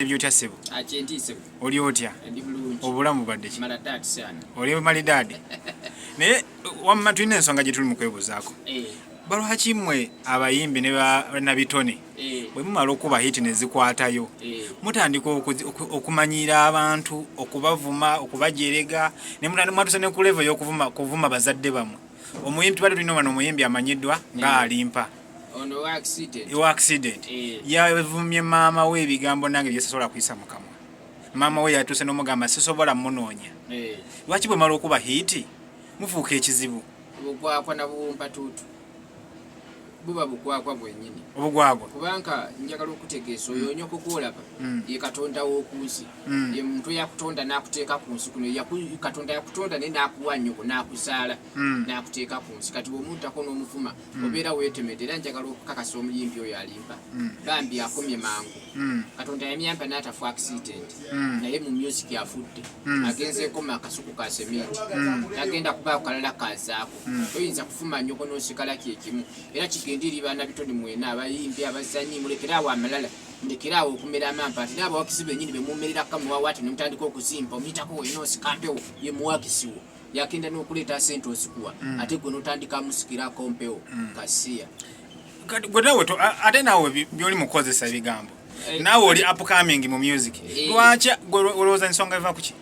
byotya sebo oli otya obulamu bwadde oli malidaadi naye wamma tulina ensonga gyetuli mukwebuzaako eh. balwaki mwe abayimbi nabitone eh. bwe mumala okuba hiti nezikwatayo eh. mutandika okumanyiira abantu okubavuma okubajerega nemwatusa nekulevo yokuvuma bazadde bamwe omuyimbi tubadde tulina wano omuyimbi amanyiddwa nga alimpa ono wa accident wa accident eh. yavumye maama we ebigambo nange byesasobola kuyisa mukamwa maama we yatuuse nomugamba sisobola munoonya eh. lwaki bwe mala okuba hiiti mufuuka ekizibu obugwagwa na buwumpatuutu buba bugwagwa bwenyini obugwagwa kubanga njagala okutegeesa oyo onyo kukuolaba mm. ye katonda wokunsi mm. ye muntu yakutonda nakuteeka ku nsi kuno katonda yakutonda naye nakuwa nyoko nakuzaala mm. nakuteeka ku nsi kati bwomuntako nomufuma hmm. obeera weetemedde era njagala okukakasa omuyimbi oyo alimba hmm. bambi akomye mangu hmm. katonda yamyamba n'atafu accident naye mu music afudde agenzeekoma akasuku ka seminti agenda kubaako kalala kazaako toyinza kufuma nyoko n'osigala kyekimu era kigenda eri baana bitoni mwena abayimbi abazanyi mulekeraawo amalala mulekeraawo okumera amampa ati n'abawakizi benyini bemumerera kamuwawaati nemutandika okuzimba omuyitako weyina osikampewo ye muwakisiwo yakenda nokuleeta sente osikuwa mm. ate gwe notandika amusikira akompewo mm. kasiya gwe nawe ate nawe byoli mukozesa ebigambo eh, nawe oli upcoming mu music eh. lwaki gwe olowooza ensonga eva kuki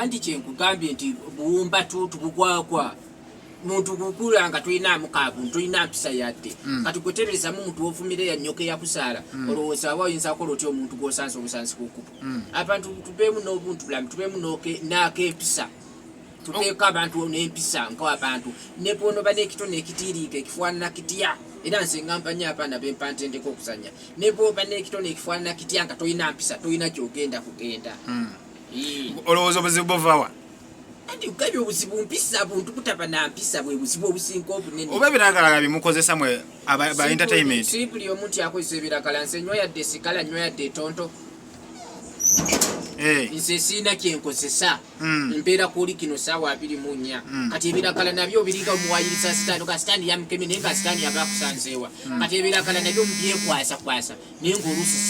anti kyenkugambye nti buwumba tutu bugwagwa muntu kukula nga tulina mukaabu tulina mpisa yadde mm. kati gwetererezamu muntu wovumire yanyoka eyakusaala olowooza aba oyinza kola otya omuntu gwosansa obusansi kukuba hmm. abantu tubeemu n'obuntu bulamu tubeemu n'akempisa tuteeko abantu n'empisa nko abantu nebwonoba n'ekito n'ekitiiriika ekifaanana kitya era nze ngampanya abaana bempantendeko okuzanya nebwoba n'ekito n'ekifaanana kitya nga tolina mpisa tolina gyogenda kugenda hmm. olowooza obuzibu buvawa kati gabye obuzibu mpisa buntu butaba na mpisa bwe buzibu obusinga obunene oba ebiragalaga bimukozesa mwe ba entertainment si buli omuntu akozesa ebiragala nze nywa yadde sikala nywa yadde tonto hey. Eh. nze siina kyenkozesa mm. mbeera kuoli kino saawa abiri mu nnya mm. kati ebiragala nabyo obiringa omuwayiriza sitaani oga sitaani yamukemi naye nga sitaani yaba akusanzeewa mm. kati ebiragala nabyo mubyekwasa kwasa naye ngaolusi